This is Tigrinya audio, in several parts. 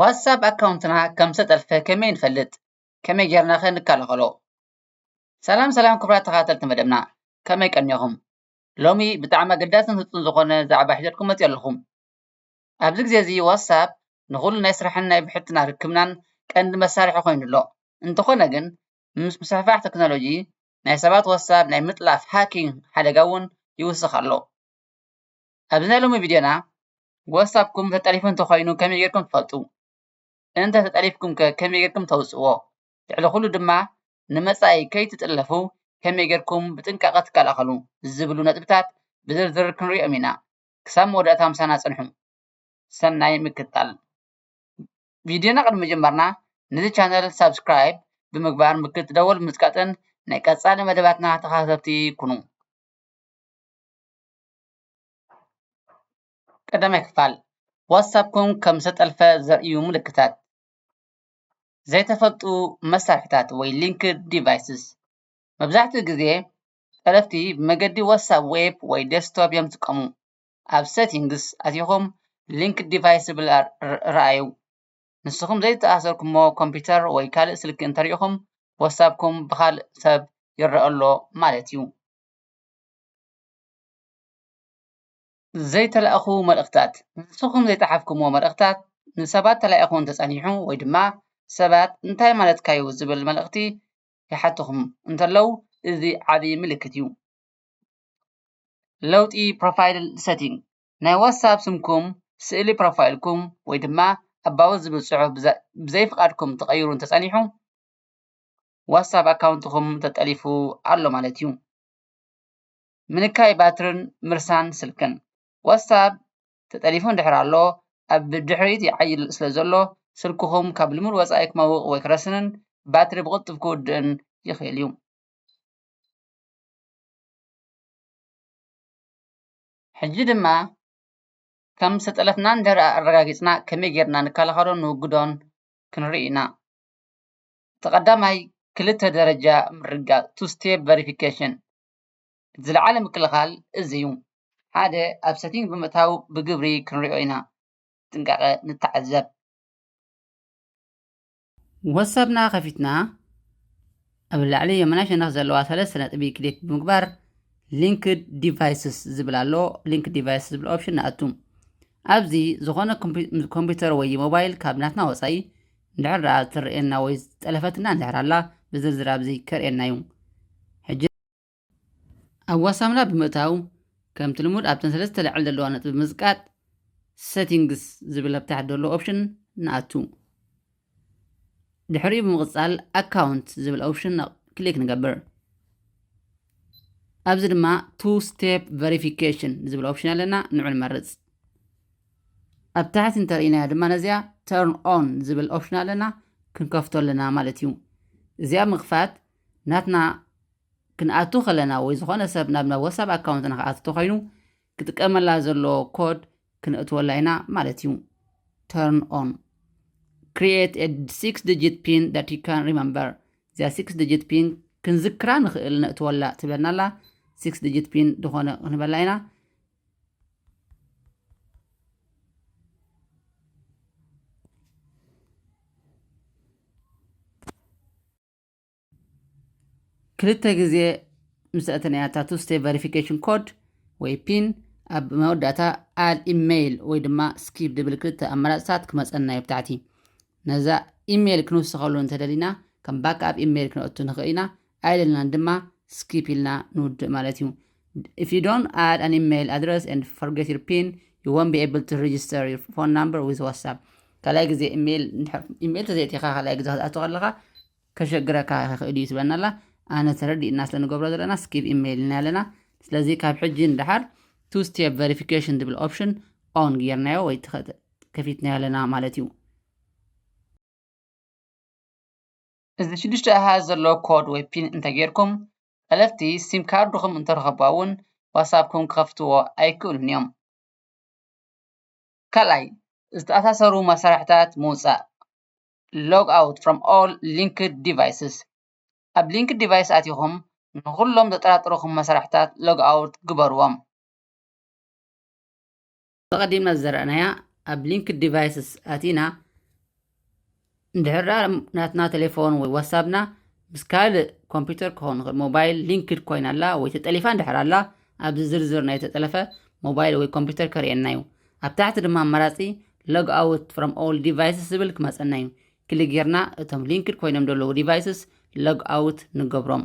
ዋትስኣብ ኣካውንትና ከም ዝተጠልፈ ከመይ ንፈልጥ ከመይ ጌርና ከ ንከላከሎ? ሰላም ሰላም ክቡራት ተከታተልቲ መደብና ከመይ ቀኒኩም ሎሚ ብጣዕሚ ኣገዳስን ህጹጽን ዝኮነ ዛዕባ ሒዘልኩም መጽየ ኣለኩ ኣብዚ ግዜ እዚ ዋትስኣብ ንኩሉ ናይ ስራሕን ናይ ብሕትና ርክብናን ቀንዲ መሳርሒ ኮይኑ ኣሎ እንተኮነ ግን ምስ ምስፍሕፋሕ ተክኖሎጂ ናይ ሰባት ዋትስኣብ ናይ ምጥላፍ ሃኪንግ ሓደጋ ዉን ይዉስክ ኣሎ። ኣብዚ ናይ ሎሚ ቪድዮና ዋትስኣፕኩም ተጠሊፉ እንተኾይኑ ከመይ ጌርኩም ትፈልጡ? እንተ ተጠሊፍኩም ከ ከመይ ጌርኩም ተውጽእዎ? ልዕሊ ኩሉ ድማ ንመጻኢ ከይትጥለፉ ከመይ ጌርኩም ብጥንቃቐ ትከላኸሉ ዝብሉ ነጥብታት ብዝርዝር ክንሪኦም ኢና። ክሳብ መወዳእታ ምሳና ጽንሑ። ሰናይ ምክትታል። ቪድዮና ቅድሚ ምጅማርና ነዚ ቻነል ሳብስክራይብ ብምግባር ምልክት ደወል ብምጽቃጥን ናይ ቀጻሊ መደባትና ተኸታተልቲ ኩኑ። ቀዳማይ ክፋል፣ ዋትስኣፕኩም ከም ዝተጠልፈ ዘርእዩ ምልክታት፣ ዘይተፈልጡ መሳርሕታት ወይ ሊንክድ ዲቫይስስ፣ መብዛሕትኡ ግዘ ጠለፍቲ ብመገዲ ዋትስኣፕ ዌብ ወይ ዴስክቶፕ እዮም ዝጥቀሙ። ኣብ ሴቲንግስ ኣቲኹም ሊንክድ ዲቫይስ ዝብል ርኣዩ። ንስኹም ዘይተኣሰርኩምዎ ኮምፒተር ወይ ካልእ ስልኪ እንተሪእኹም ዋትስኣፕኩም ብኻልእ ሰብ ይረኣ ኣሎ ማለት እዩ። ዘይተላእኹ መልእኽታት ንስኹም ዘይጸሓፍኩሞ መልእኽታት ንሰባት ተላኢኹ እንተጸኒሑ ወይ ድማ ሰባት እንታይ ማለትካ እዩ ዝብል መልእኽቲ ይሓቱኹም እንተለዉ እዚ ዓቢ ምልክት እዩ። ለውጢ ፕሮፋይል ሰቲንግ ናይ ዋትስኣፕ ስምኩም ስእሊ ፕሮፋይልኩም ወይ ድማ ኣባውት ዝብል ጽሑፍ ብዘይ ፍቓድኩም ተቐይሩ እንተጸኒሑ ዋትስኣፕ ኣካውንትኩም ተጠሊፉ ኣሎ ማለት እዩ። ምንካይ ባትርን ምርሳን ስልክን። ዋትስኣፕ ተጠሊፉ እንድሕር ኣሎ ኣብ ብድሕሪት ይዓይል ስለ ዘሎ ስልክኹም ካብ ልሙድ ወጻኢ ክመውቕ ወይ ክረስንን ባትሪ ብቕልጡፍ ክውድእን ይኽእል እዩ። ሕጂ ድማ ከም ዝተጠለፍና እንድሕር ኣረጋጊጽና ከመይ ጌርና ንከላኸሎን ንውግዶን ክንርኢ ኢና። እቲ ቀዳማይ ክልተ ደረጃ ምርግጋጽ፣ Two Step Verification፣ ዝለዓለ ምክልኻል እዚ እዩ። ሓደ ኣብ ሰቲንግ ብምእታው ብግብሪ ክንሪኦ ኢና። ብጥንቃቐ ንተዓዘብ። ወትሳፕና ከፊትና ኣብ ላዕሊ የመናይ ሸነኽ ዘለዋ ሰለስተ ነጥቢ ክሊክ ብምግባር ሊንክድ ዲቫይስስ ዝብል ኣሎ ሊንክ ዲቫይስ ዝብል ኦፕሽን ንኣቱ ኣብዚ ዝኾነ ኮምፒ- ኮምፒውተር ወይ ሞባይል ካብ ናትና ወፃኢ እንድሕር ደኣ እትርኤና ወይ ዝጠለፈትና እንድሕር ኣላ ብዝርዝር ኣብዚ ከርእየና እዩ። ሕጂ ኣብ ዋትሳፕና ብምእታው ከምቲ ልሙድ ኣብተን ሰለስተ ልዕል ዘለዋ ነጥቢ ብምዝቃጥ Settings ዝብል ኣብ ታሕቲ ዘሎ ኦፕሽን ንኣቱ። ድሕሪኡ ብምቕጻል Account ዝብል ኦፕሽን ክሊክ ንገብር። ኣብዚ ድማ Two Step Verification ዝብል ኦፕሽን ኣለና፣ ንዑ ንመርጽ። ኣብ ታሕቲ እንተርኢናያ ድማ ነዚኣ Turn On ዝብል ኦፕሽን ኣለና ክንከፍቶ ኣለና ማለት እዩ። እዚኣ ምኽፋት ናትና ክንኣቱ ከለና ወይ ዝኾነ ሰብ ናብ ናብ ወሳብ ኣካውንትና ክኣቱ ተኾይኑ ክጥቀመላ ዘለዎ ኮድ ክነእትወላ ኢና ማለት እዩ። Turn On Create a 6 digit pin that you can remember እዚኣ 6 digit pin ክንዝክራ ንኽእል ነእትወላ ትብለና ኣላ 6 digit pin ዝኾነ ክንበላ ኢና ክልተ ግዜ ምስ ኣተናያ እታ ቱ ስቴፕ ቨሪፊኬሽን ኮድ ወይ ፒን ኣብ መወዳእታ ኣድ ኢሜይል ወይ ድማ ስኪፕ ድብል ክልተ ኣማራፅታት ክመፀና እዩ ብታሕቲ ነዛ ኢሜይል ክንውስኸሉ እንተደሊና ከም ባክኣፕ ኢሜይል ክንኣቱ ንኽእል ኢና ኣይደልናን ድማ ስኪፕ ኢልና ንውድእ ማለት እዩ። If you don't add an email address and forget your PIN, you won't be able to register your phone number with WhatsApp. ካልኣይ ግዜ ኢሜይል ኢሜይል ተዘይእቲኻ ካልኣይ ግዜ ክትኣቱ ከለኻ ከሸግረካ ይኽእል እዩ ትብለና ኣላ ኣነ ተረዲእና ስለ ንገብሮ ዘለና ስኪብ ኢሜይል ኢና ኣለና ስለዚ ካብ ሕጂ ንደሓር ቱ ስቴፕ ቨሪፊኬሽን ዝብል ኦፕሽን ኦን ጌርናዮ ወይ ከፊትናዮ ኣለና ማለት እዩ እዚ ሽዱሽተ ኣሃዝ ዘለዎ ኮድ ወይ ፒን እንተገይርኩም ጠለፍቲ ሲም ካርድኹም እንተረኸቡዋ እውን ዋትስኣፕኩም ክኸፍትዎ ኣይክእሉን እዮም። ካልኣይ ዝተኣሳሰሩ መሳርሕታት ምውፃእ log out from all linked devices ኣብ linked device ኣቲኹም ንኹሎም ዘጠራጥሩኹም መሳርሕታት log out ግበሩዎም። ኣቐዲምና ዝዘራእናያ ኣብ ሊንክድ ዲቫይስስ ኣቲና እንድሕር ደኣ ናትና ቴሌፎን ወይ ዋትሳፕና ምስ ካልእ ኮምፒውተር ክኸውን ይኽእል ሞባይል ሊንክድ ኮይና ኣላ ወይ ተጠሊፋ እንድሕር ኣላ ኣብዚ ዝርዝር ናይ ተጠለፈ ሞባይል ወይ ኮምፒውተር ከርእየና እዩ ኣብ ታሕቲ ድማ ኣማራፂ ሎግ ኣውት ፍሮም ኦል ዲቫይስስ ዝብል ክመፀና እዩ ክሊ ጌርና እቶም ሊንክድ ኮይኖም ዘለዉ ዲቫይስስ ሎግ ኣውት ንገብሮም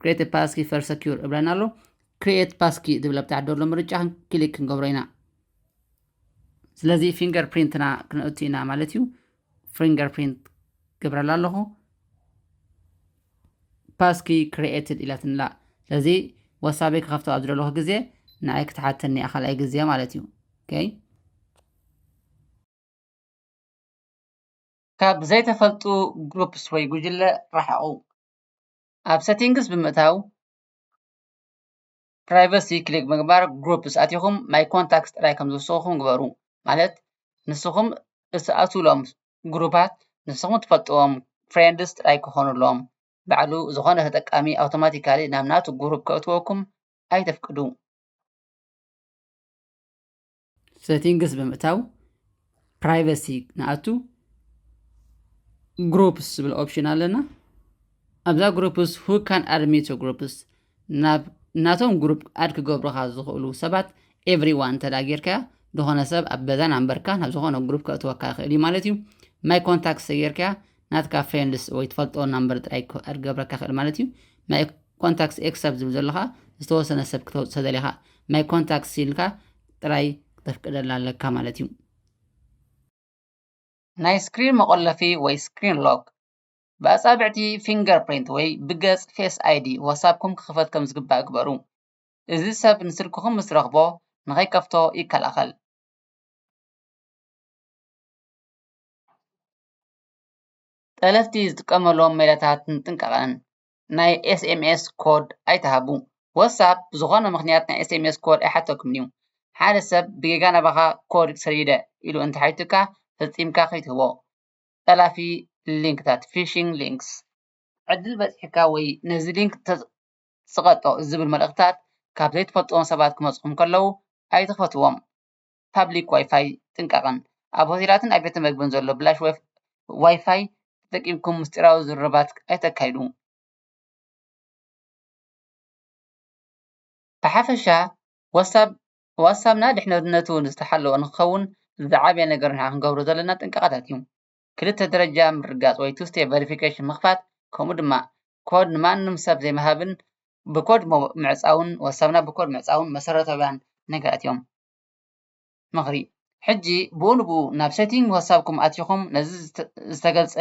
Create Passkey for Secure እብለና ኣሎ ክሪኤት ፓስኪ ዝብል ኣብ ታሕቲ ዘሎ ምርጫ ክሊክ ክንገብሮ ኢና ስለዚ ፊንገር ፕሪንትና ክንእቱ ኢና ማለት እዩ ፊንገር ፕሪንት ገብረላ ኣለኹ ፓስኪ ክሪኤትድ ኢላትንላ ስለዚ ወሳበይ ክኸፍቶ ኣብ ዝደለኹ ግዜ ንኣይ ክትሓተኒ እያ ካልኣይ ግዜ ማለት እዩ ኦይ ካብ ዘይተፈልጡ ግሩፕስ ወይ ጉጅለ ረሓቑ ኣብ ሰቲንግስ ብምእታው ፕራይቨሲ ክሊክ ምግባር ግሩፕስ ኣቲኹም ማይ ኮንታክትስ ጥራይ ከም ዝውስኹም ግበሩ ማለት ንስኹም እትኣትውሎም ግሩፓት ንስኹም ትፈልጥዎም ፍሬንድስ ጥራይ ክኾኑሎም ባዕሉ ዝኾነ ተጠቃሚ ኣውቶማቲካሊ ናብ ናቱ ግሩፕ ከእትወኩም ኣይተፍቅዱ። ሴቲንግስ ብምእታው ፕራይቨሲ ንኣቱ ግሩፕስ ዝብል ኦፕሽን ኣለና ኣብዛ ግሩፕስ ሁ ካን ኣድሚት ግሩፕስ ናብ ናቶም ግሩፕ ኣድ ክገብሩካ ዝኽእሉ ሰባት ኤቭሪዋን እንተ ጌርካያ ዝኾነ ሰብ ኣብ በዛን ኣንበርካ ናብ ዝኾነ ግሩፕ ከእትወካ ይኽእል እዩ ማለት እዩ ማይ ኮንታክት ተጌርካያ ናትካ ፍሬንድስ ወይ ትፈልጦ ናምበር ጥራይ ክገብረካ ክእል ማለት እዩ ማይ ኮንታክስ ኤክስ ኣብ ዝብል ዘሎ ከዓ ዝተወሰነ ሰብ ክተውፅእ ተደሊኻ ማይ ኮንታክስ ኢልካ ጥራይ ክተፍቅደላ ኣለካ ማለት እዩ ናይ ስክሪን መቆለፊ ወይ ስክሪን ሎክ ብኣጻብዕቲ ፊንገር ፕሪንት ወይ ብገጽ ፌስ ኣይዲ ዋትሳፕኩም ክኽፈት ከም ዝግባእ ግበሩ እዚ ሰብ ንስልክኹም ምስ ረኽቦ ንኸይከፍቶ ይከላኸል ጠለፍቲ ዝጥቀምሎም ሜላታት ጥንቃቀን ናይ ኤስኤምኤስ ኮድ ኣይትሃቡ ዋትስኣብ ብዝኮነ ምክንያት ናይ ኤስኤምኤስ ኮድ ኣይሓተኩምን እዩ ሓደ ሰብ ብጌጋ ናባካ ኮድ ሰዲደ ኢሉ እንተሓቲቱካ ፈፂምካ ከይትህቦ ጠላፊ ሊንክታት ፊሽንግ ሊንክስ ዕድል በፂሕካ ወይ ነዚ ሊንክ ፅቀጦ ዝብል መልእክትታት ካብ ዘይትፈልጥዎም ሰባት ክመፁኩም ከለው ኣይትክፈትዎም። ፓብሊክ ዋይፋይ ጥንቃቐን። ኣብ ሆቴላትን ኣብ ቤት መግብን ዘሎ ብላሽ ዋይፋይ ተጠቂምኩም ምስጢራዊ ዝርርባት ኣይተካይዱ። ብሓፈሻ ዋትስኣፕ ዋትስኣፕና ድሕንነቱ ዝተሓለወ ንክኸውን ዝዓበየ ነገር ንሕና ክንገብሮ ዘለና ጥንቃቐታት እዩ። ክልተ ደረጃ ምርግጋፅ ወይ two step verification ምኽፋት ከምኡ ድማ ኮድ ንማንም ሰብ ዘይምሃብን ብኮድ ምዕፃውን ዋትስኣፕና ብኮድ ምዕፃውን መሰረታውያን ነገራት እዮም። ምኽሪ ሕጂ ብኡ ንብኡ ናብ ሴቲንግ ሀሳብኩም ኣቲኹም ነዚ ዝተገልጸ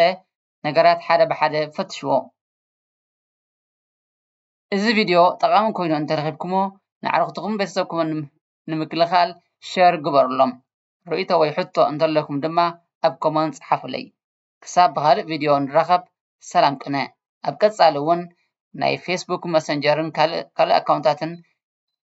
ነገራት ሓደ ብሓደ ፈትሽዎ። እዚ ቪድዮ ጠቓሚ ኮይኑ እንተረኺብኩሞ ንኣዕርኽትኹምን ቤተሰብኩምን ንምክልኻል ሸር ግበሩሎም። ርእይቶ ወይ ሕቶ እንተለኩም ድማ ኣብ ኮመንት ጸሓፉለይ። ክሳብ ብኻልእ ቪድዮ ንራኸብ ሰላም ቅነ። ኣብ ቀጻሊ እውን ናይ ፌስቡክ መሰንጀርን ካልእ ኣካውንታትን